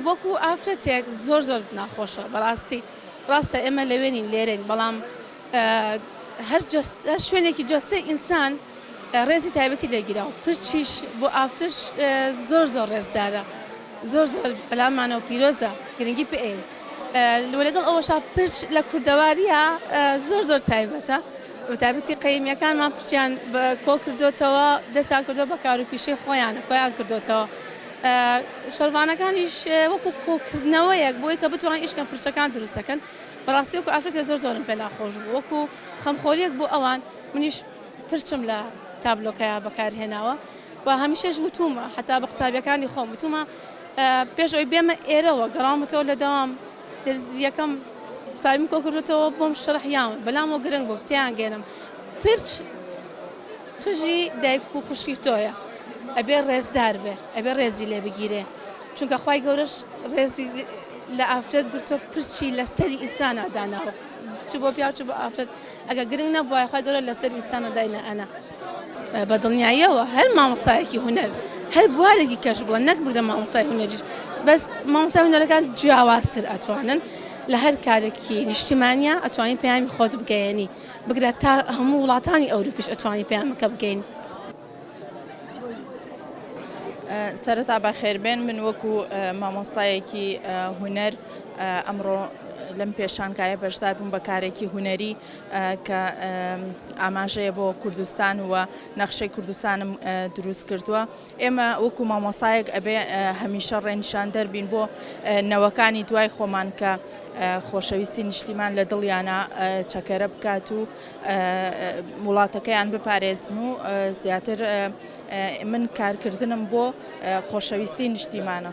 وەکو ئافرەتێک زۆر زۆر ناخۆشە بەڕاستی ڕاستە ئێمە لەوێ نین لێرەین بەڵام هەر شوێنێکی جەستەی ئینسان ڕێزی تایبەتی لێگیرا و پرچیش بۆ ئافرش زۆر زۆر ڕێزدارە زۆر زۆر بەلامانە و پیرۆزە گرنگی پێ و لەگەڵ ئەوەشا پرچ لە کوردەوارییە زۆر زۆر تایبەتە، بەتایبەتی قەیمییەکانمان پرچیان کۆڵ کردۆتەوە، دەستیان کردۆ بە کار و پیشەی خۆیان و کۆیان کردۆتەوە. شەڕڤانەکانیش وەکوو کۆکردنەوەیەک بۆی کە بتوانن ئیش بکەن پرچەکان دروست دەکەن. بەڕاستی وەکوو ئافرەتێ زۆر زۆرم پێ ناخۆش بوو، وەکوو خەمخۆرییەک بۆ ئەوان منیش پرچم لە تابلۆکەیا بەکار هێناوە و هەمیشەش وتوومە حەتا بە قوتابییەکانی خۆم وتوومە، پێش ئەوەی بێمە ئێرەوە گەڕاومەتەوە لە دەوام درزییەکەم ساویم کۆکردێتەوە بۆم شەرح یاون بەلامەوە گرنگ بوو تیان گەێنم پرچ قژی دایک و خوشکی تۆیە ئەبێ ڕێزدار بێ ئەبێ ڕێزی لێ بگیرێ چونکە خی گەورەش ڕێزی لە ئافرەت گرتۆ پرچی لە سەری ئینسانە داناوە چ بۆ پیاو چ بە ئافرەت ئەگە گرنگ نەبووە خی گەورە لەسەر ئینسانە داینە ئەنا بە دڵنیاییەوە هەر مامۆستایەکی هونەر هەر بوارێکی کەش بڵە نەک بگرە مامۆستای هونەریش بەس مامۆستای هونەرەکان جیاوازتر ئەتوانن لە هەر کارێکی نیشتیمانیا ئەتوانی پەیامی خۆت بگەیەنی بگرە تا هەموو وڵاتانی ئەوروپیش ئەتوانی پەیامەکە بگەین. سەرەتا بەخێربێن من وەکو مامۆستایەکی هونەر ئەمڕۆ لەم پێشانکایە بەشدار بووم بە کارێکی هونەری کە ئاماژەیە بۆ کوردستان و نەخشەی کوردستانم دروست کردووە ئێمە وەکو مامۆسایەک ئەبێ هەمیشە ڕێنیشاندەر بین بۆ نەوەکانی دوای خۆمان کە خۆشەویستی نیشتیمان لە دڵیانە چەکەرە بکات و وڵاتەکەیان بپارێزن و زیاتر من کارکردنم بۆ خۆشەویستی نیشتیمانە.